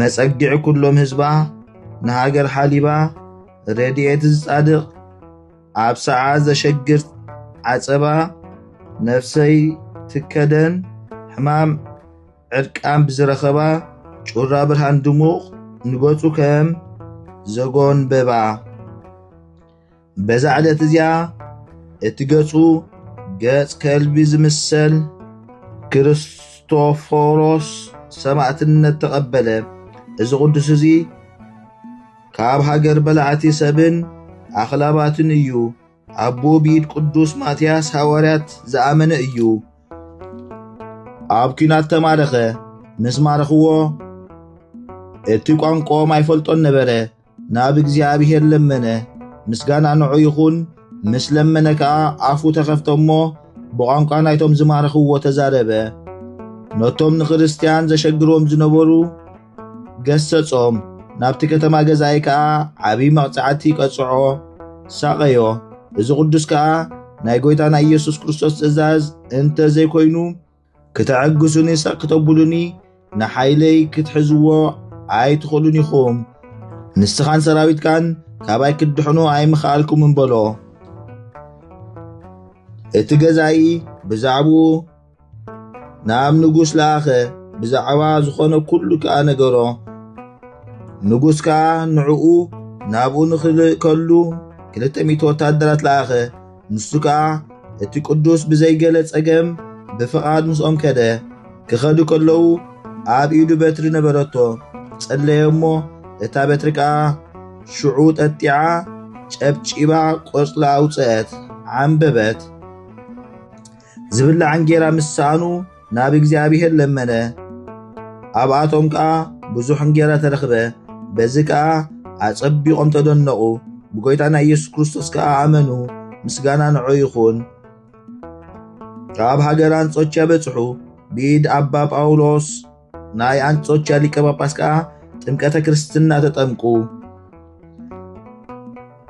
መጸግዒ ኩሎም ህዝባ ንሃገር ሓሊባ ረድኤት ዝጻድቕ ኣብ ሰዓ ዘሸግር ዓጸባ ነፍሰይ ትከደን ሕማም ዕርቃን ብዝረኸባ ጩራ ብርሃን ድሙቕ ንገጹ ከም ዘጎንበባ በዛ ዕለት እዚኣ እቲ ገጹ ገጽ ከልቢ ዝምሰል ክርስቶፎሮስ ሰማእትነት ተቐበለ። እዚ ቅዱስ እዚ ካብ ሃገር በላዕቲ ሰብን ኣኽላባትን እዩ። ኣቦ ቢድ ቅዱስ ማትያስ ሃዋርያት ዝኣመነ እዩ። ኣብ ኲናት ተማረኸ። ምስ ማረኽዎ እቲ ቋንቋኦም ኣይፈልጦን ነበረ። ናብ እግዚኣብሔር ለመነ፣ ምስጋና ንዑ ይኹን፣ ምስ ለመነ ከኣ ኣፉ ተኸፍተ እሞ ብቋንቋ ናይቶም ዝማረኽዎ ተዛረበ። ነቶም ንክርስትያን ዘሸግርዎም ዝነበሩ ገሰጾም፣ ናብቲ ከተማ ገዛኢ ከኣ ዓብዪ መቕጻዕቲ ቀጽዖ፣ ሳቐዮ። እዚ ቅዱስ ከኣ ናይ ጐይታና ኢየሱስ ክርስቶስ ትእዛዝ እንተ ዘይኮይኑ ክተዕግሱኒ ሰቕ ክተብሉኒ ንሓይለይ ክትሕዝዎ ኣይትኽእሉን ኢኹም ንስኻን ሰራዊትካን ካባይ ክትድሕኑ ኣይምኽኣልኩምን በሎ እቲ ገዛኢ ብዛዕባኡ ናብ ንጉስ ለኣኸ ብዛዕባ ዝኾነ ኩሉ ከዓ ነገሮ ንጉስ ከዓ ንዕኡ ናብኡ ንኽልእከሉ ክልተ ሚእቲ ወታደራት ለኣኸ ንሱ ከኣ እቲ ቅዱስ ብዘይገለ ጸገም ብፍቓድ ምስኦም ከደ። ክኸዱ ከለዉ ኣብ ኢዱ በትሪ ነበረቶ። ጸለየ እሞ እታ በትሪ ከኣ ሽዑ ጠጢዓ ጨብጪባ ቆጽላ ኣውጽአት፣ ዓምበበት። ዝብላዕ እንጌራ ምስ ሰኣኑ ናብ እግዚኣብሔር ለመነ። ኣብኣቶም ከዓ ብዙሕ እንጌራ ተረኽበ። በዚ ከዓ ኣጸቢቖም ተደነቑ፣ ብጐይታና ኢየሱስ ክርስቶስ ከዓ ኣመኑ። ምስጋና ንዑ ይኹን። ካብ ሃገር ኣንጾኪያ በጽሑ። ብኢድ ኣባ ጳውሎስ ናይ ኣንጾኪያ ሊቀ ጳጳስ ከዓ ጥምቀተ ክርስትና ተጠምቁ።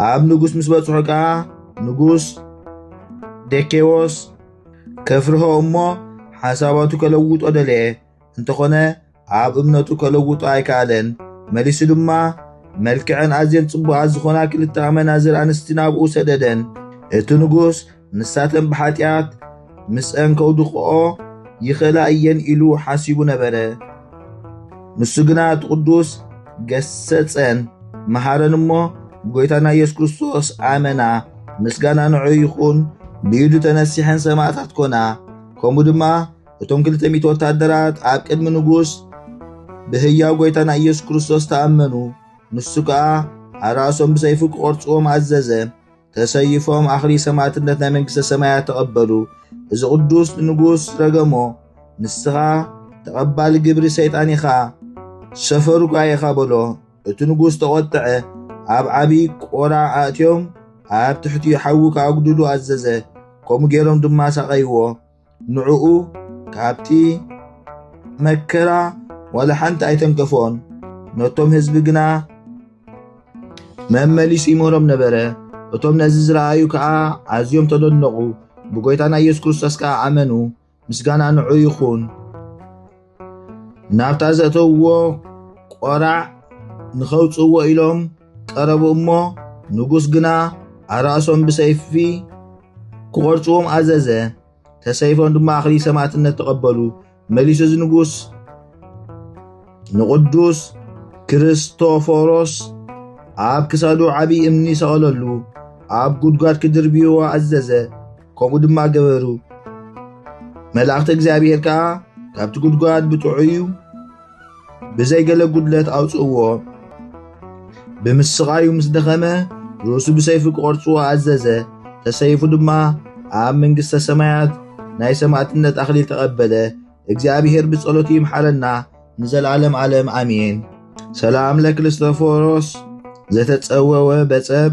ኣብ ንጉሥ ምስ በጽሑ ከዓ ንጉሥ ዴኬዎስ ከፍርሆ እሞ ሓሳባቱ ከለውጦ ደለየ። እንተኾነ ኣብ እምነቱ ከለውጦ ኣይከኣለን። መሊሱ ድማ መልክዐን ኣዝየን ጽቡቓት ዝኾና ክልተ ኣመናዝር ኣንስቲ ናብኡ ሰደደን። እቲ ንጉስ ንሳተን ብሓጢኣት ምስአን ከውድቕኦ ይኽእላ እየን ኢሉ ሓሲቡ ነበረ። ንሱ ግና እቲ ቅዱስ ገሰጸን መሃረን እሞ ብጎይታና ኢየሱስ ክርስቶስ ኣመና ምስጋና ንዑ ይኹን ብኢዱ ተነሲሐን ሰማዕታት ኮና ከምኡ ድማ እቶም ክልተ ሚእቲ ወታደራት ኣብ ቅድሚ ንጉስ ብህያው ጎይታና ኢየሱስ ክርስቶስ ተኣመኑ ንሱ ከዓ ኣራእሶም ብሰይፉ ክቖርጽዎም ኣዘዘ ተሰይፎም ኣኽሊ ሰማእትነት ናይ መንግሥተ ሰማያት ተቐበሉ። እዚ ቅዱስ ንጉሥ ረገሞ ንስኻ ተቐባሊ ግብሪ ሰይጣን ኢኻ፣ ሰፈሩ ኳ ኢኻ በሎ። እቲ ንጉሥ ተቖጥዐ፣ ኣብ ዓብዪ ቆራ ኣእትዮም ኣብ ትሕቲ ሓዊ ክኣጉድሉ ኣዘዘ። ከምኡ ገይሮም ድማ ሳቐይዎ። ንዕኡ ካብቲ መከራ ዋላ ሓንቲ ኣይተንከፎን። ነቶም ህዝቢ ግና መመሊሱ ይምህሮም ነበረ። እቶም ነዚ ዝረኣዩ ከዓ ኣዝዮም ተደነቑ፣ ብጎይታና ኢየሱስ ክርስቶስ ከዓ ኣመኑ። ምስጋና ንዑ ይኹን። ናብታ ዘእተውዎ ቆራዕ ንኸውፅዎ ኢሎም ቀረቡ እሞ ንጉስ ግና ኣራእሶም ብሰይፊ ክቖርፅዎም ኣዘዘ። ተሰይፎም ድማ ኣኽሊ ሰማዕትነት ተቐበሉ። መሊሱ እዚ ንጉስ ንቕዱስ ክርስቶፎሮስ ኣብ ክሳዱ ዓብዪ እምኒ ሰቐለሉ፣ ኣብ ጉድጓድ ክድርብይዎ ኣዘዘ። ከምኡ ድማ ገበሩ። መላእኽቲ እግዚኣብሔር ከዓ ካብቲ ጉድጓድ ብጥዑዩ ብዘይ ገለ ጉድለት ኣውፅእዎ። ብምስቓዩ ምስ ደኸመ ርእሱ ብሰይፊ ክቖርፅዎ ኣዘዘ። ተሰይፉ ድማ ኣብ መንግሥተ ሰማያት ናይ ሰማዕትነት ኣኽሊል ተቐበለ። እግዚኣብሔር ብጸሎቱ ይምሓረና ንዘለዓለም ዓለም ኣሜን። ሰላም ለክርስቶፎሮስ ዘተጸወወ በጸብ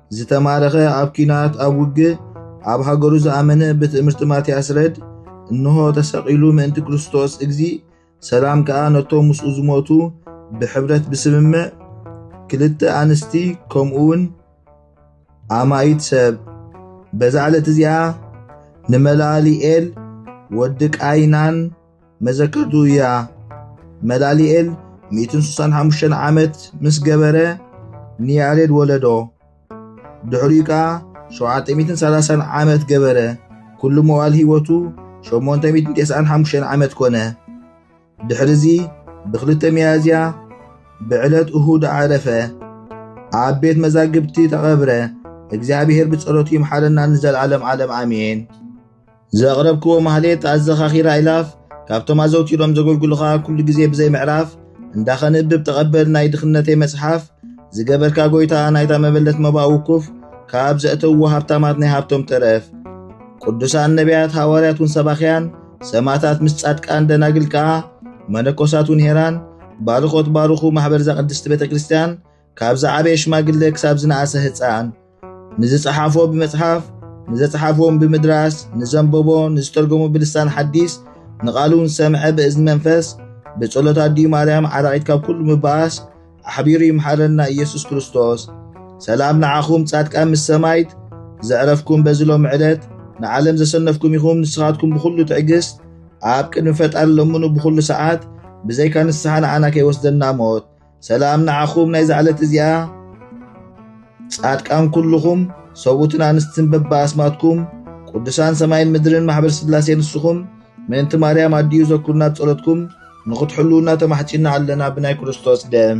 ዝተማረኸ ኣብ ኪናት ኣብ ውግእ ኣብ ሃገሩ ዝኣመነ ብትእምርቲ ማትያስ ረድ እንሆ ተሰቒሉ ምእንቲ ክርስቶስ እግዚ ሰላም ከዓ ነቶም ምስኡ ዝሞቱ ብሕብረት ብስምምዕ ክልተ ኣንስቲ ከምኡውን ኣማይት ሰብ በዛ ዕለት እዚኣ ንመላሊኤል ወዲ ቃይናን መዘከርቱ እያ መላሊኤል ሚእትን ስሳን ሓሙሽተን ዓመት ምስ ገበረ ንያሬድ ወለዶ ድሕሪኡ ከኣ ሸውዓተ ሚእትን ሰላሳን ዓመት ገበረ ኩሉ መዋል ህይወቱ ሸሞንተ ሚእትን ቴስዓን ሓሙሽተን ዓመት ኮነ ድሕሪዚ ብክልተ ሚያዝያ ብዕለት እሁድ ዓረፈ ኣብ ቤት መዛግብቲ ተቐብረ እግዚኣብሔር ብጸሎቱ ይምሓረና ንዘለዓለም ዓለም ኣሜን ዘቕረብክዎ ማህሌት ኣዘኻኺራ ኢላፍ ካብቶም ኣዘውቲሮም ዘገልግሉኻ ኩሉ ግዜ ብዘይ ምዕራፍ እንዳ ኸንብብ ተቐበል ናይ ድኽነተይ መጽሓፍ ዝገበርካ ጎይታ ናይታ መበለት መባእ ውኩፍ ካብ ዘእተውዎ ሃብታማት ናይ ሃብቶም ተረፍ ቅዱሳን ነቢያት ሃዋርያት ውን ሰባኽያን ሰማታት ምስ ጻድቃን ደናግል ከኣ መነኮሳት ውን ሄራን ባርኾት ባርኹ ማሕበር ዛቅድስቲ ቤተ ክርስቲያን ካብ ዝዓበየ ሽማግለ ክሳብ ዝነኣሰ ህፃን ንዝፀሓፎ ብመፅሓፍ ንዘፅሓፍዎም ብምድራስ ንዘንበቦ ንዝተርጎሙ ብልሳን ሓዲስ ንቓሉ ዝሰምዐ ብእዝኒ መንፈስ ብጸሎት ኣዲኡ ማርያም ዓራቒት ካብ ኩሉ ምባኣስ ኣሕቢሩ ይምሓረና ኢየሱስ ክርስቶስ ሰላም ንዓኹም ጻድቃን ምስ ሰማይት ዘዕረፍኩም በዚ ሎሚ ዕለት ንዓለም ዘሰነፍኩም ኢኹም ንስኻትኩም ብኹሉ ትዕግስት ኣብ ቅድሚ ፈጣሪ ለምኑ ብኹሉ ሰዓት ብዘይካ ንስሓ ንዓና ከይወስደና ሞት ሰላም ንዓኹም ናይዛ ዕለት እዚኣ ጻድቃን ኩልኹም ሰብኡትን ኣንስትን በባ ኣስማትኩም ቅዱሳን ሰማይን ምድርን ማሕበር ስላሴ ንስኹም ምእንቲ ማርያም ኣድዩ ዘኩርና ጸሎትኩም ንኽትሕልውና ተማሕጺና ኣለና ብናይ ክርስቶስ ደም